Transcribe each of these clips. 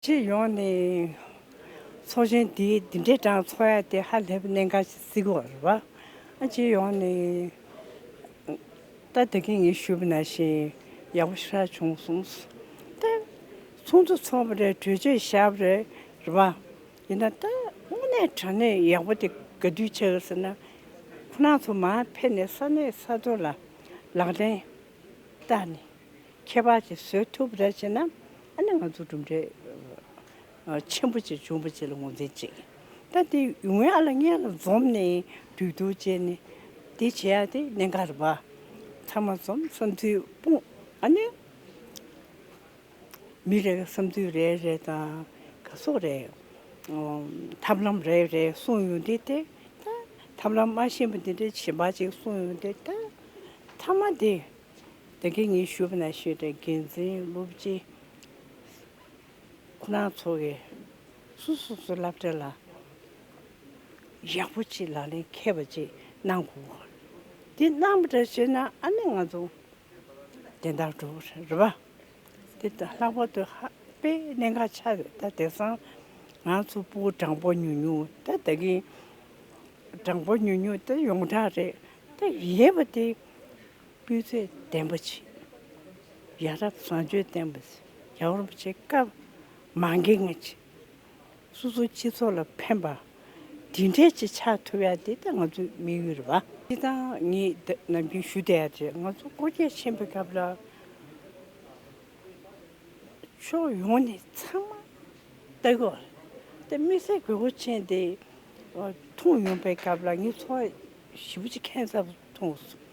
སྤྱི་ཡོངས་ནས་ཚོགས་ཆེན་འདིའི་འདི་འདྲའི་གྲངས་འཚོགས་ཡ་དེ་ཧ་ལས་པའི་གནད་འགག་ཅིག་གཟིགས་པར་རེ་བ། སྤྱི་ཡོངས་ནས་ལྟ་དེ་གིན་ངས་ཞུ་བ་ན་ཞིག་ཡག་པོ་ཤར་བྱུང་གསུངས། ལྟ། ཚོགས་འདུ་འཚོགས་པ་རེད་གྲོས་ཆོད་བཞག་པ་རེད་རེ་བ། ཡིན་ན་ལྟ། དངོས་གནས་དྲ་གནས་ཡག་པོ་དེ་ག་དུས་ཆགས་ཟེར་ན། ཁོ་ན་ཚོ་མར་ཕེབས་ནས་ས་གནས་ས་ཐོ་ལ་ལག་ལེན་ལྟ་ནི། ཁྱད་པར་གྱི་བཟོད་ཐུབ་རལ་ཆེ་ན། ཨ་ནི་ང་ཚོ་གྲུབ་འབྲས་ཆེན་པོ་ཅིག་འབྱུང་བ་ཅིག་ལ་ངོས་འཛིན་ཅིག། ལྟ་དེ་ངོས་ཨ་ལ་མངལ་ལ་འཛོམས་ནས་དུས་ཐུག་བྱས་ནས་དེ་བྱས་ཨ་དེ་གནས་འགའ་རེ་བ། ཚང་མ་འཛོམས་སོང་དུས་སྤུངས་ཨ་ནི། མི་རེ་བསམ་ཚུལ་རེ་རེ་དང་ག་སོགས་རེ་ཐབས་ལམ་རེ་རེ་གསུངས་ཡོང་དུས་དེ་ལྟ་ཐབས་ལམ་མ་ཤེས་པ་དེ་འདྲའི་བྱིས་པ་ཅིག་གསུངས་ཡོང་དུས་ལྟ་མཐའ་མ་དེ་དེ་གའི་ངས་ཞུ་བ་ན་ཤེས་དྲ་རྒྱལ་མཚན་སློབ་སྤྱི་ཁོ་ན་ཚོ་གི་སུ་སུ་སུ་བསླབ་བྱ་ལ་ཡག་པོ་ཅིག་ལག་ལེན་མཁས་པ་ཅིག་གནང་དགོས་དགོས་དེ་གནང་བ་འདྲ་བྱས་ན་ཨ་ནི་ང་ཚོ་དེ་ལྟར་འགྲོ་གི་རེད་རེད་པ། དེ་དང་ལྷག་པར་དུ་ཧ་པེ་གནད་འགག་ཆགས་ཡོད་ད་དེང་སང་ང་ཚོ་སྤུ་བོ་སྦྲང་བོ་ཉུང་ཉུང་ད་ད་གིན་སྦྲང་བོ་ཉུང་ཉུང་ད་ཡོངས་གྲགས་རེད་ད་ཡེ་བ་དེ་སྤུས་ཚད་ལྡན་པོ་བྱེད་ཡ་རབས་བཟང་སྤྱོད་ལྡན་པོ་བྱེད་ཡ་རོབ་བྱེད་སྐབས་མང་གིན་ང་བྱེད། སོ་སོའི་སྤྱི་ཚོགས་ལ་ཕན་པ། དེ་འདྲའི་ཆེད་ཆགས་ཐུབ་ཡ་དེ་ད་ང་ཚོའི་དམིགས་ཡུལ་རེད་པ། སྤྱི་དང་གཉིས་ནམ་རྒྱུན་ཞུ་བསྡད་ཡ་དེ་ང་ཚོ་བསྐོ་རྒྱལ་ཆེན་པོའི་སྐབས་ལ་ཕྱོགས་ཡོངས་ནས་ཚང་མ་ལྟ་གི་བ་རེད་དེ་དམིགས་བསལ་དགོས་མཁོ་ཆེན་དེ་ཐོངས་ཡོང་པའི་སྐབས་ལ་ངས་ཚོ་བ་བཞི་པོ་ཅིག་ཁེངས་ཚབས་ཐོངས་སོང།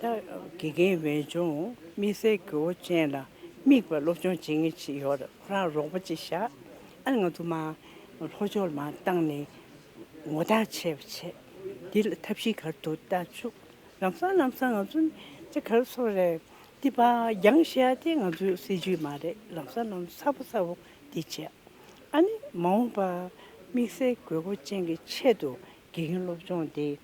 དགེ་རྒན་བས་ཅུང་དམིགས་བསལ་གྱི་འོ་ཅན་ལ་དམིགས་པའི་སློབ་སྦྱོང་བྱེད་ངེས་ཅི་ཡོད་ཁོ་རང་རོགས་པ་ཅིག་བྱ། ཨ་ང་དུ་མ། ལྷོ་ཕྱོགས་ལ་མ་བཏང་ནས་ངོ་རྟགས་ཆད་པ་བྱེད། འདི་ལ་ཐབས་ཤེས་གར་དུ་བལྟ་བཅུག། ལམ་སང་ལམ་སང་ང་ཚོ་ནི་གར་ཚོ་རེད། འདི་པ་རྒྱང་བཤད་དེ་ང་ཚོའི་སྲིད་ཇུས་མ་རེད་ལམ་སང་ལམ་སང་ཚ་པོ་ཚ་པོ་འདི་བྱེད། ཨ་ནི་མ་འོངས་པར་དམིགས་བསལ་དགོས་མཁོ་ཅན་གྱི་ཆེད་དུ་དགེ་རྒན་སློབ་སྦྱོང་འདི།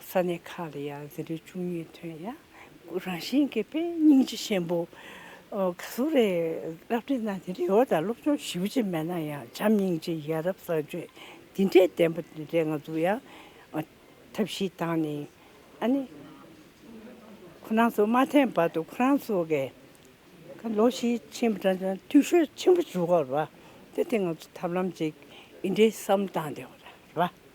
ས་གནས་ཁག་ལ་ཡང་ཟིན་བྲིས་བཅུ་གཉིས་ཐོན་ཡང་རང་བཞིན་གྱི་དཔེ་རྙིང་རྗེ་ཆེན་པོ་ག་ཟུར་རེ་བསླབ་ཁྲིད་གནང་སྟེ་རེ་བ་དང་སློབ་སྦྱོང་ཞིབ་བྱེད་མེད་ན་ཡང་བྱམས་སྙིང་རྗེ་ཡ་རབས་གསར་བཅོས་འདི་འདྲའི་བདེན་པ་འདི་འདྲའི་ང་ཚོ་ཡང་ཐབས་ཤེས་བཏང་ནས་ཨ་ནི་ཁོ་རང་ཚོ་མ་འཐེན་བར་དུ་ཁོ་རང་ཚོ་གས་ལོ་ཤས་ཕྱིན་པ་དང་འཐུས་ཤོར་ཆེན་པོ་བྱུང་བ་རེད་པ་དེ་དེ་ང་ཚོ་ཐབས་ལམ་ཅིག་ཡིན་འདྲའི་བསམ་བཏང་བསྡད་པ་རེད་པ།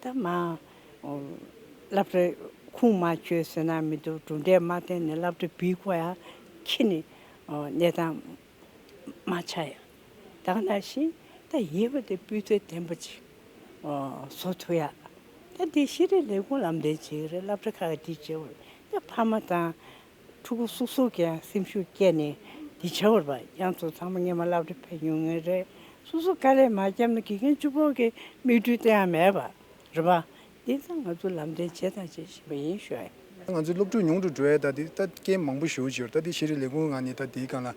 ད་མ་བསླབ་གྲྭ་ཁུངས་མ་འཁྱོལ་ཟེར་ན་མི་འདུག་གྲུབ་འབྲས་མ་བསྟན་ནས་བསླབ་གྲྭ་འབུལ་དགོས་ཡ་ཁྱི་ནི་གནས་སྟངས་མ་ཆགས་ཡ་དག་ན་ཤིང་ད་ཡེ་བ་དེ་སྤུས་ཚད་ལྡན་པ་ཅིག་བཟོ་ཐུབ་ཡ་ད་འདི་ཤེས་རིག་ལས་ཁུངས་ལམ་སྟོན་བྱེད་ཀྱི་རེད་བསླབ་གྲྭ་ཁག་གི་འདི་བྱེད་དགོས་རེད་ད་ཕ་མ་དང་ཕྲུ་གུ་སུ་སུ་གྱི་ཡང་སེམས་ཤུགས་བསྐྱེད་ནས་འདི་བྱ་བར་བབས། ཡང་ཚོ་ཚང་མ་སྙེ་མ་བླ་བྲེ་ཕེབས་མྱོང་ངེས་རེད། སུ་སུ་དཀའ་ལས་མ་བརྒྱབ་ན་དགེ་རྒན་བཅུ་ཕོག་གི་མིག་འཕྲུལ་དེ་ཡང་མེད་པ་རེད་བ། འདི་ལྟར་ང་ཚོ་ལམ་སྟོན་བྱས་དང་བྱེད་བཞིན་པ་ཡིན་ཞོར། ང་ཚོའི་སློབ་ཕྲུག་ཉུང་དུ་འགྲོ་ཡས་ད་དེ་ལྟ་སྐད་མང་པོ་ཞུ་ཞོར་ད་དེ་ཤེས་རིག་ལས་ཁུངས་གང་ནས་ད་དེའི་གང་ལ་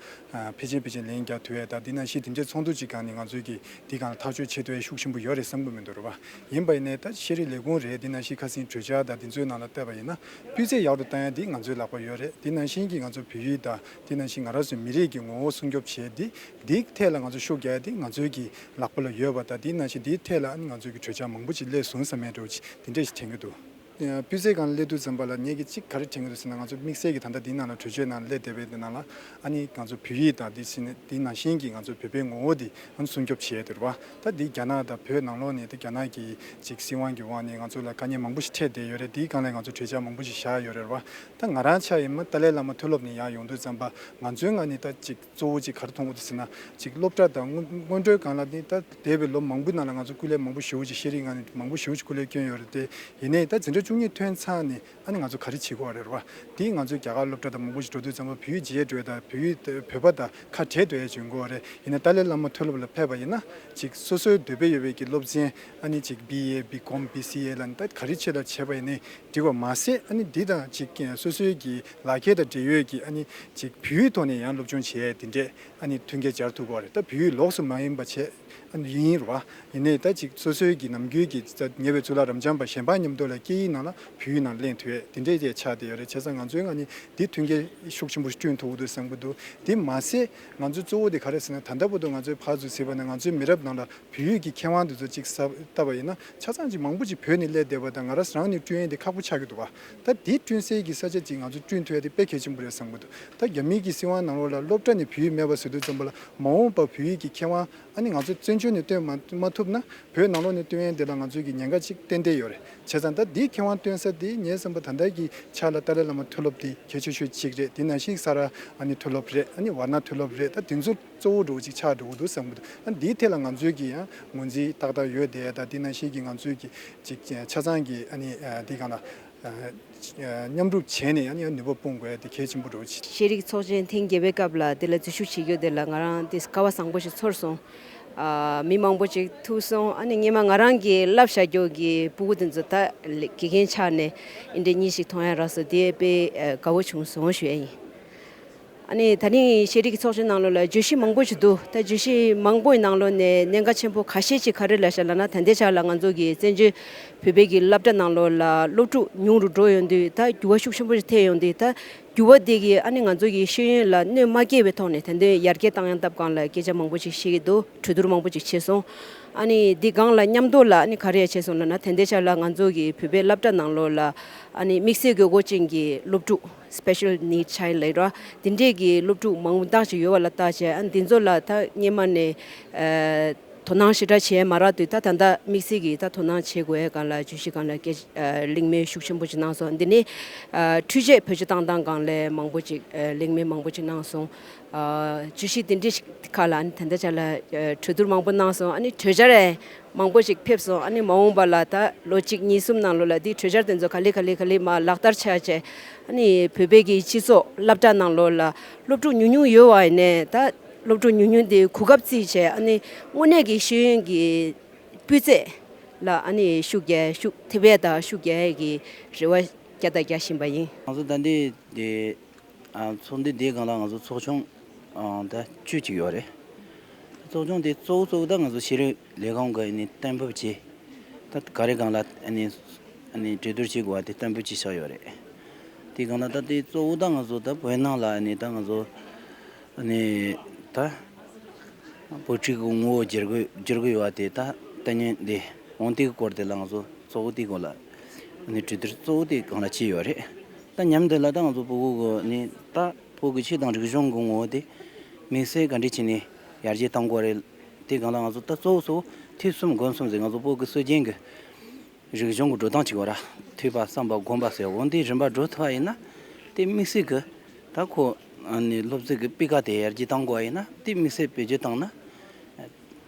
ཕེ་ཆེན་ཕེ་ཆེན་ལན་རྒྱག་དུས་ཡས་ད་དེ་ན་ཤེས་དེ་འདྲས་ཚོགས་འདུ་ཅིག་གང་ནས་ང་ཚོའི་གི་དེ་གང་ལ་ཐག་གཅོད་བྱེད་དུ་ཡས་ཤུགས་ཆེན་པོ་ཡོད་རེད་བསམ་གི་མི་འདུག་རེད་བ། ཡིན་པ་ཡིན་ནས་ད་ཤེས་རིག་ལས་ཁུངས་རེད་དེ་ན་ཤེས་ཁ་སིན་གྲོས་འཆར་ད་དེ་ཚོའི་ནང་ལ་བཏབ་པ་ཡིན་ན་སྤུས་ཚད་ཡག་ཏུ་བཏང་ཡ་འདི་ང་ཚོའི་ལག་པར་ཡོད་རེད་དེ་ནང་བཞིན་གྱི་ང་ཚོ་བོད་ཡིག་དང་དེ་ནང་བཞིན་ང་ར་སོའི་མི་རིགས་ཀྱི་ངོ་བོ་སྲུང་སྐྱོབ་བྱས་ཏེ་འདིའི་ཐད་ལ་ང་ཚོ་ཤུགས་རྒྱག་ཡ་འདི་ང་ཚོའི་གྱི་ལག་པ་ལ་ཡོད་པ་དང་དེ་ནང་བཞིན་འདིའི་ཐད་ལ་ང་ཚོའི་གྱི་གྲོས་འཆར་མང་པོ་ཅིག་སླད་བཟུང་ས་མེད་འགྲོ་ཅིག་དེ་འདྲས་ཞིག་དྲན་གྱི་འདུག། སྤུས་ཚད་གང་སླད་དུ་འཛོམས་པ་ལ་ངས་གྱི་ཅིག་ག་རེ་དྲན་གྱི་འདུག་ཟེར་ན་ང་ཚོ་དམིགས་བསལ་གྱི་ད་ལྟ་འདིའི་ནང་ལ་གྲོས་ཆོད་ནང་སླད་དེ་བས་དེ་ནང་ལ་ཨ་ནི་ང་ཚོ་བོད་ཡིག་དང་དེ་བཞིན་དེ་ནང་བཞིན་གྱི་ང་ཚོ་བོད་པའི་ངོ་བོ་དེ་ཨ་ནི་སྲུང་སྐྱོབ་བྱས་ཡ་དེ་རུ་བ། ད་འདི་རྒྱ་ནག་དང་བོད་ནང་ལོགས་ནས་ད་རྒྱ་ནག་གི་ཅིག་སྲིད་དབང་གི་འོག་ནས་ང་ཚོ་ལ་དཀའ་ཉེན་མང་པོ་ཞིག་འཕྲད་བསྡད་ཡོད་རེད་དེའི་སྒང་ལས་ང་ཚོ་གྲོས་འཆར་མང་པོ་ཞིག་བཞག་ཡོད་རེད་རེད་བ། ད་ང་རང་ཆགས་ཡས་མ་ཏཱ་ལའི་བླ་མ་མཐོ་སློབ་ནས་ཡག་ཡོང་དུས་ཙམ་པ་ང་ཚོའི་ངག་ནས་ད་ཅིག་གཙོ་བོ་ཅིག་གར་མཐོང་གོ་ཏི་ཟེར་ན་ཅིག་སློབ་གྲྭ་དང་སྔོན་འགྲོའི་སྒང་ལ་ནི་ད་འདས་པའི་ལོ་མང་པོའི་ནང་ལ་ང་ཚོ་སྐུ་ལས་མང་པོ་ཞེ་བོ་ཅིག་ཤེས་རིག་ངག་ནས་མང་པོ་ཞེ་བོ་ཅིག་སྐུ་ལས་བསྐྱོན་ཡོད་རེད་དེ་ཡིན་ནས་ད་འཛིན་གྲྭ་བཅུ་གཉིས་ཐོན་ཚང་ནས་ཨ་ནི་ང་ཚོ་ག་རེ་བྱེད་དགོས་བ་རེད་རོ། དེ་ང་ཚོའི་རྒྱ་གར་སློབ་གྲྭ་དང་མང་པོ་ཞིག་འགྲོ་དུས་ཙམ་པོ་བོད་རྗེས་འགྲོས་དང་བོད་བོད་པ་དང་ཁ་བྲལ་འདོད་ཡ་བྱུང་དགོས་བ་རེད་ཡིན་ན་ཏཱ་ལའི་བླ་མ་མཐོ་སློབ་ལ་ཕེབས་པ་ཡིན་ན་ཅིག་སོ་སོའི་འདོད་པའི་ཡོད་པའི་གི་སློབ་ཚན་ཨ་ནི་ཅིག་བི་ཡེ་བི་ཀོམ་བི་སི་ཡེ་ལ་ནི་ད་ག་རེ་བྱེད་ལ་བྱེད་པ་ཡིན་ནི་འགྲིག་བ་མ་ཟད་ཨ་ནི་འདི་དང་ཅིག་སོ་སོའི་གི་ལག་ཁྱེར་དང་འབྲེལ་ཡོད་གི་ཨ་ནི་ཅིག་བེུད་ཐོག་ནས་ཡང་སློབ་སྦྱོང་བྱས་དེ་འདྲས་ཨ་ནི་མཐུན་རྐྱེན་སྦྱར་ཐུབ་དགོས་བ་རེད་ད་བེུད་ལོགས་སུ་མ་ཡིན་པ་བྱས། ཡིན། རུ་བ། ཡིན་ནའི་ད་ཅིག་སོ་སོའི་གི་ནམ་རྒྱུན་གི་ཉེ་བའི་ཚུལ་ལ་རམ་འབྱམས་པ་གཞན་པ་ཉམས་རྟོགས་ལ་སྐད་ཡིག་ནང་ལ་བོད་ཡིག་ནང་གླེང་དུས་ཨེ་དེ་འདྲས་ཀྱི་ཆ་དེ་ཡོད་རེད་བྱས་ཙང་ང་ཚོའི་ང་ནི་འདི་མཐུན་རྐྱེན་ཤུགས་ཆེན་པོ་བསྐྲུན་ཐུབ་འདུག་བསམ་གི་འདུག་དེ་མ་ཟད་ང་ཚོའི་གཙོ་བོ་དེ་ག་རེ་ཟེར་ན་ད་ལྟ་བུ་དུ་ང་ཚོའི་ཕར་ཚུར་ཟེར་བ་ནི་ང་ཚོའི་མི་རབས་ནང་ལ་བོད་ཡིག་གི་མཁས་དབང་དེ་ཚོ་ཅིག་བཏབ་པ་ཡིན་ན་ཆ་ཚང་ཅིག་མང་པོ་ཅིག་བོད་ནས་བསླེས་བསྡད་པ་དང་ང་རང་ནི་ཀྲུའུ་ཡན་དེ་ཁག་པོ་ཆགས་ཀྱི་འདུག་བ་ད་དེ་བསྐྲུན་སའི་གི་ས་ཆ་གཅིག་ང་ཚོ་བསྐྲུན་ཐུབ་ཡ་དེ་དཔེ་གལ་ཆེན་པོ་རེད་བསམ་གི་འདུག་ད་རྒྱ་མིའི་གི་སྲིད་དབང་ནང་ལོགས་ལ་སློབ་གྲྭ་ནས་བོད་ཡིག་མེད་པ་ཟེར་དུས་བཙན་པོ་ལ་མ་འོངས་པར་བོད་ཡིག་གི་ཁེ་དབང་ཨ་ནི་ང་ཚོ་བཙན་བྱོལ་ནས་སྟོན་མ་མ་ཐུབ་ན་བོད་ནང་ལོགས་ནས་སྟོན་ཡན་དེ་ལ་ང་ཚོའི་གི་ཉེན་ཁ་ཅིག་ཏན་ཏན་ཡོད་རེད་བྱས་ཙང་ད་དེ་ཁེ་དབང་སྟོན་ས་དེ་ངས་བསམ་པ་ད་ལྟ་གི་ཆ་ལ་ཏཱ་ལའི་བླ་མ་མཐོ་སློབ་དེ་གལ་ཆེ་ཤོས་གཅིག་རེད་དེ་ནང་བཞིན་ས་ར་ཨ་ནི་མཐོ་སློབ་རེད་ཨ་ནི་བར་ན་མཐོ་སློབ་རེད་ད་དེ་ཚོ། གཙོ་བོ་འགྲོ་གཅིག་ཆགས་འགྲོ་འདུག་བསམ་གྱི་འདུག་འདིའི་ཐད་ལ་ང་ཚོས་ཀྱི་ངོས་འཛིན་ཏག་ཏག་ཡོད་དེ་ད་དེ་ན་ཞིག་གི་ང་ཚོས་ཀྱི་ཅིག་ཆ་ཚང་གི་དེ་གང་ལགས། མཉམ་སྒྲུབ་བྱས་ནས་ཡང་ནུས་པ་སྤུངས་དགོས་དེ་གལ་ཆེན་པོ་འགྲོ་གཅིག། ཤེས་རིག་ཚོགས་ཆེན་ཐེངས་བརྒྱད་པའི་སྐབས་ལ་དེ་ལ་འཛུལ་ཞུགས་བྱེད་རྒྱུ་དེ་ལ་ང་རང་དེ་སྐལ་བ་བཟང་པོ་ཞིག་ཚོར་སོང། མི་མང་པོ་ཅིག་ཐུག་སོང་ཨ་ནི་སྙེ་མ་ང་རང་གི་བསླབ་བྱ་རྒྱོགས་ཀྱི་སྤུ་གུ་དེ་ཚོ་ད་དགེ་རྒན་ཆགས་ནས་འདྲེ་གཉིས་ཞིག་མཐོང་ཡ་རགས་སོ་དེ་དཔེ་དགའ་བོ་བྱུང་སོང་ཞུ་ཡ་ཡིན། ད་རིང་ཤེས་རིག་ཚོགས་ཆུང་ནང་ལོ་ལ་བརྗོད་གཞི་མང་པོ་ཞིག་འདུག་ད་བརྗོད་གཞི་མང་པོའི་ནང་ལོ་ནས་གནད་འགག་ཆེན་པོ་ག་ཤེད་ཅིག་ག་རེ་ལ་བཞག་ལ་ན་ད་འདས་ཆགས་ལ་ང་ཚོ་གི་བཙན་བྱོལ་བོད་པའི་གི་བསླབ་གྲྭ་ནང་ལོ་ལ་སློབ་ཕྲུག་ཉུང་རུ་འགྲོ་ཡོང་དུས་ད་འགྱུར་བ་ཤུགས་ཆེན་པོ་ཞིག་ཐེབས་ཡོང་དུས་ད་འགྱུར་བ་དེ་གི་ཨ་ནི་ང་ཚོ་གི་ཤེས་ཡོན་ལ་གནོད་མ་སྐྱེལ་བའི་ཐོག་ནས་ད་དོན་ཡར་རྒྱས་བཏང་ཡང་སྟབས་གང་ལ་སྐད་ཆ་མང་པོ་ཞིག་བཤད་ཀྱི་འདུག་གྲོས་བསྡུར་མང་པོ་ཅིག་བྱས་སོང་ཨ་ནི་འདི་སྒང་ལ་མཉམ་དུ་ལ་ཨ་ནི་ག་རེ་ཡང་བྱས་སོང་ལ་ན་ད་འདས་ཆགས་ལ་ང་ཚོ་གི་བོད་པའི་བསླབ་གྲྭ་ནང་ལོ་ལ་ཨ་ནི་དམིགས་བསལ་དགོས་མཁོ་ཅན་གྱི་སློབ་ཕྲུག། Special Needs Child ལས་རོགས་དེ་འདྲས་ཀྱི་སློབ་ཕྲུག་མང་པོ་འདང་ཞིག་ཡོད་པ་ལ་བལྟ་བྱས་ཨ་འདི་ཚོ་ལ་ད་སྙེ་མ་ནས་དོ་སྣང་ཞེ་དྲག་བྱས་མ་རག་དུས་ད་ད་ལྟ་དམིགས་བསལ་གྱིས་ད་དོ་སྣང་བྱེད་དགོས་ཡས་གང་ལ་བྱུས་ཤིག་གང་ལ་སྐད་གླེང་མོལ་ཤུགས་ཆེན་པོ་ཅིག་གནང་སོང་འདི་ནས་འཕྲུལ་ཆས་བོད་ཆས་བཏང་སྟངས་གང་ལས་མང་པོ་ཅིག་གླེང་མོལ་མང་པོ་ཅིག་གནང་སོང། བརྗོད་གཞི་འདི་འདྲི་ཞིག་ཁག་ལ་ཨ་ནི་དེ་འདྲ་བྱས་ལ་གྲོས་བསྡུར་མང་པོ་གནང་སོང་ཨ་ནི་གྲོས་འཆར་མང་པོ་ཞིག་ཕེབས་སོང་ཨ་ནི་མ་འོངས་པ་ལ་ད་ལོ་གཅིག་གཉིས་གསུམ་ནང་ལོ་ལ་དེའི་གྲོས་འཆར་དེ་ཚོ་ག་ལེ་ག་ལེ་ག་ལེ་མ་ལག་བསྟར་བྱས་རྗེས་ཨ་ནི་བོད་པའི་གི་སྤྱི་ཚོགས་བསླབ་གྲྭ་ནང་ལོ་ལ་སློབ་ཕྲུག་ཉུང་ཉུང་ཡོད་བ་ཡིན་ནས་ད་སློབ་ཕྲུག་ཉུང་ཉུང་དེའི་གོ་སྐབས་བརྩིས་བྱས་ཨ་ནི་དངོས་གནས་ཀྱི་ཤེས་ཡོན་གྱི་སྤུས་ཚད་ལ་ཨ་ནི་ཤུགས་རྒྱ་ཤུགས་དེ་བས་ད་ཤུགས་རྒྱ་ཡི་རེ་བ་བརྒྱ་དང་བརྒྱ་བཞིན་པ་ཡིན། ང་ཚོ་ད་འདི་ཚོགས་འདུ་དེའི་སྒང་ལ་ང་ཚོ་ཚོགས་ཆུང་ཟླ་བཅུ་གཅིག་ཡོད་རེད། ཚོགས་ཆུང་དེ་གཙོ་བོ་གཙོ་བོ་ད་ང་ཚོ་ཕྱི་རོལ་ལས་ཁང་གི་གཏན་འབེབས་ཀྱིས་ད་ག་རེ་སྒང་ལ་གྲོས་བསྡུར་བྱེད་དགོས་པ་དེ་གཏན་འབེབས་བྱེད་ཤག་ཡོད་རེད། དེའི་སྒང་ལ་ད་དེ་གཙོ་བོ་ད་ང་ཚོ་ད་བོད་ནང་ལ་ད་ང་ཚོ་ད་བོད་ཕྲུག་གི་ངོ་བོ་བསྒྱུར་དགོས་བསྒྱུར་དགོས་ཡོད་པ་དེ་ད་ལྟ་ཉིན་འདི་དབང་ལྟའི་སྐོར་དེ་ལ་ང་ཚོ་གཙོ་བོ་དེའི་སྐོར་ལ་གྲོས་བསྡུར་གཙོ་བོ་དེའི་སྒང་ལ་བྱས་ཡོད་རེད། ད་མཉམ་དུ་ལ་དྭགས་སུ་སྤོ་སྒུག་གི་ནི་ད་ཕོ་གི་ཕྱི་དང་རིག་གཞུང་གི་ངོ་བོ་དེ་དམིགས་བསལ་ག་འདྲི་བྱས་ནས་ཡར་རྒྱས་བཏང་དགོས་རེད་དེ་གང་ལ་ང་ཚོ་ད་གཙོ་བོ་སོ་ཐིག་གསུམ་དགོན་གསུམ་ཟེར་ང་ཚོ་ཕོ་གི་སྲོལ་རྒྱན་གི་རིག་གཞུང་གི་འགྲོ་སྟངས་གཅིག་བ་ར་འཐུས་པ་བསམ་པ་སྒོམ་པ་ཟེར་འོང་དེ་རིམ་པར་འགྲོ་ཐུབ་པ་ཡིན་ན་དེ་དམིགས་བསལ་གི་ད་ཁོ་ནི་སློབ་ཚིག་གི་དཔེ་ཁག་དེ་ཡར་རྒྱས་བཏང་དགོས་པ་ཡིན་ན་དེ་དམིགས་བསལ་བེད་སྤྱོད་བཏང་ན།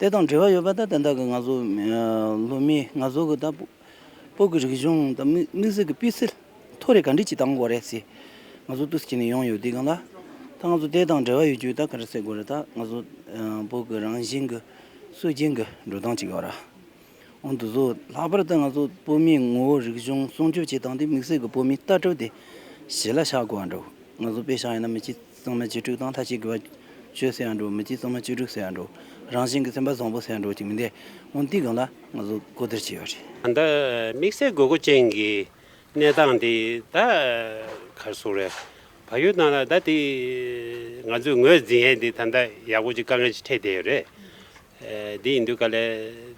ལྟས་དང་འབྲེལ་བ་ཡོད་པ་དང་དེ་དག་གི་ང་ཚོ་ལོ་མིའི་ང་ཚོ་གི་དང་པོ་གི་རིག་གཞུང་དང་དམིགས་བསལ་གྱི་སྤུས་ཚད་མཐོ་རེ་ག་འདྲི་གཅིག་བཏང་དགོས་རེད་ཟེར། ང་ཚོ་ཏུས་ཀྱིས་ནས་ཡོང་ཡོད་དུས་གང་ལ་ད་ང་ཚོ་ལྟས་དང་འབྲེལ་བ་ཡོད་རྒྱུ་ད་ག་རེ་སེ་དགོས་རེད་ད་ང་ཚོ་དང་པོ་གི་རང་བཞིན་གྱི་སྲོལ་རྒྱུན་གྱི་འགྲོ་སྟངས་གཅིག་ཡོད་ར་འོན་དུ་ཟོ་ལྷག་པར་དུ་ང་ཚོ་སྤོ་མིའི་ངོ་བོ་རིག་གཞུང་སྲུང་སྐྱོབ་བྱེད་སྟངས་དེ་དམིགས་བསལ་གྱི་སྤོ་མིའི་ལྟ་གྲུབ་དེ་གཞི་ལ་བཞག་དགོས་ར་འགྲོ་ང་ཚོ་པེ་ཞང་ཡིན་ན་མི་སྤྱི་གཙང་མ་གཅིག་དྲུག་དང་ཐ་ཆད་དགོས་པ། ཆོས་ཟེར་ཡང་འགྲོ། མི་གཅིག་གཙང་མ་གཅིག་དྲུག་ཟེར་ཡང་འགྲོ། རང་བཞིན་གྱི་སེམས་པ་བཟང་པོ་ཟེར་ཡང་འགྲོ་ཅིག་མི་འདས། སྔོན་དུས་གང་ལ་ང་ཚོ་གོ་བདེར་བྱས་པ་རེད། ད་དམིགས་བསལ་དགོས་མཁོ་ཅན་གྱི་གནས་སྟངས་དེ་ད་གར་སོང་རེད། བག་ཡོད་གནང་ན་ད་དེ་ང་ཚོས་ངོས་འཛིན་ཡས་དེ་ད་ལྟ་ཡག་པོ་ཅིག་དཀའ་ངལ་ཅིག་འཕྲད་བསྡད་ཡོད་རེད། དེ་ཡིན་དུས་ག་ལེ་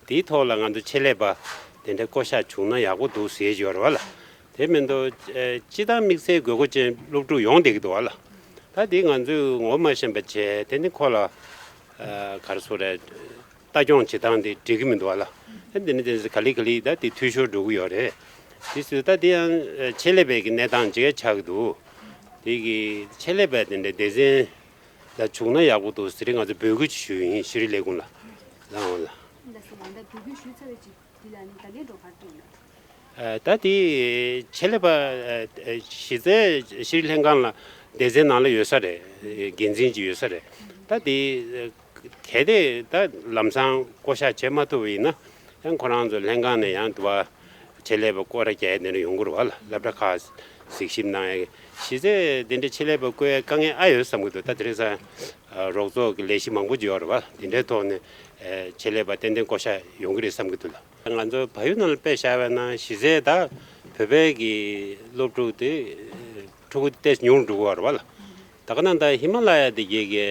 དེའི་ཐོག་ལ་ང་ཚོ་ཆེད་ལས་པ་དེ་འདྲ་བསྐོ་བཞག་བྱུང་ན་ཡག་པོ་འདུག་ཟེར་གྱི་ཡོད་རེད་བ་ལ། དེ་མིན་དུ་སྤྱི་དང་དམིགས་བསལ་དགོས་མཁོ་ཅན་སློབ་ཕྲུག་ཡོང་བསྡད་ཀྱི་འདུག་ལ། ད་དེ་ང་ཚོས་ངོ་མ་ཤེས་པ་བྱས་དེ་ནི་ཁོ་ལ་གར་སོ་རེ་ལྟ་སྐྱོང་བྱེད་སྟངས་དེ་འགྲིག་གི་མི་འདུག་ལ། དེ་ནི་དེ་ག་ལེ་ག་ལེ་ད་དེ་འཐུས་ཤོར་འགྲོ་གི་ཡོད་རེད། དེ་སུས་ད་དེ་ཡང་ཆེད་ལས་པའི་གི་གནས་སྟངས་ཅིག་ཡ་ཆགས་ཀྱི་འདུག་དེ་གི་ཆེད་ལས་པ་དེ་འདྲ་སྡེ་ཚན་ལ་བྱུང་ན་ཡག་པོ་འདུག་ཟེར་རེ་ང་ཚོས་འབོད་སྐུལ་ཅིག་ཞུ་ཡིན་ཤི་རི་ལས་ཁུངས་ལ། ལ། འདི་ལ་ནི་བདག་གིས་འགྲོ་ཁར་བསྟན་ནས། ད་དེ་བྱེད་ལས་པ་གཞི་རྩའི་ཕྱིར་ལྷན་ཁང་ལ་སྡེ་ཚན་ནང་ལ་ཡོད་ས་རེད་འགན་འཛིན་གྱི་ཡོད་ས་རེད་ད་དེ་གལ་ཏེ་ད་ལམ་སང་བསྐོ་བཞག་བྱེད་མ་ཐུབ་པ་ཡིན་ན་ཡང་ཁོ་རང་ཚོ་ལྷན་ཁང་ནས་ཡང་དུ་བ་བྱེད་ལས་པ་བསྐོ་ར་རྒྱ་ཡེ་དེ་འདྲ་ཡོང་དགོས་རུ་བ་ལ་ལབ་གྲ་ཁ་གཟིགས་ཞིབ་གནང་ཡ་གཞི་རྩའི་དེ་འདྲ་བྱེད་ལས་པ་བསྐོ་ཡ་དཀའ་ངལ་ཨ་ཡོད་བསམ་གི་འདུག་ད་དེ་རིང་སང་རོགས་ཚོགས་ཀྱི་ལས་གཞི་མང་པོ་འབྱོར་བ་དེ་འདྲའི་ཐོག་ནས་ཆེད་ལས་པ་ཏན་ཏན་བསྐོ་བཞག་ཡོང་གི་རེད་བསམ་གྱི་འདུག་ལ། ང་ཚོའི་བལ་ཡུལ་ནང་ལ་དཔེ་བཞག་པ་ན་གཞི་རྩའི་ད་བོད་པའི་གི་སློབ་ཕྲུག་དེ་ཕྲུ་གུ་ཏེ་ཉུང་འགྲོ་གི་རེད་ལ། ད་ག་ནང་ད་ཧི་མ་ལ་ཡ་དེ་གའི་གི་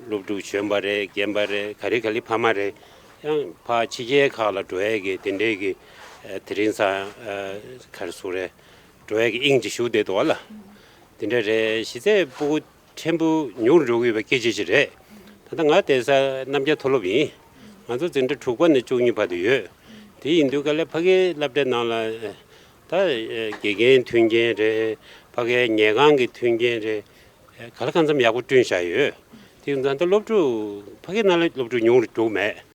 སློབ་ཕྲུག་གཞོན་པ་རེད་རྒན་པ་རེད་ག་རེ་ག་ལི་ཕ་མ་རེད་ཡང་ཕ་ཕྱི་རྒྱལ་ཁག་ལ་འགྲོ་བའི་གི་དེ་འདྲའི་གི་དེ་རིང་ས་གར་སུ་རེད་འགྲོ་བའི་དབྱིངས་ཀྱི་ཞུགས་བདེ་དུ་བ་ལ། འདི་འདྲ་རེད་གཞི་རྩའི་སྤུ་གུ་ཕྲན་བུ་ཉུང་རུ་འགྲོ་གི་ཡོད་པ་སྐད་ཆ་ཅིག་རེད། ད་ལྟ་ང་བསྡད་ས་རྣམ་རྒྱལ་མཐོ་སློབ་ཡིན། ང་ཚོ་འཛིན་གྲྭ་དྲུག་པ་ནས་བཅུ་གཉིས་བར་དུ་ཡོད། དེ་ཡིན་དུས་ག་ལེར་ཕ་གའི་བསླབ་གྲྭའི་ནང་ལ། ད་དགེ་རྒན་མཐུན་རྐྱེན་རེད། ཕ་གའི་ཉལ་ཁང་གི་མཐུན་རྐྱེན་རེད། ག་ལེར་གང་འཚམ་ཡག་པོ་བསྐྲུན་བཞག་ཡོད། དེ་ཡིན་དུས་ད་ལྟ་སློབ་ཕྲུག་ཕ་གའི་ནང་ལ་སློབ་ཕྲུག་ཉུང་རུ་འགྲོ་གི་མེད།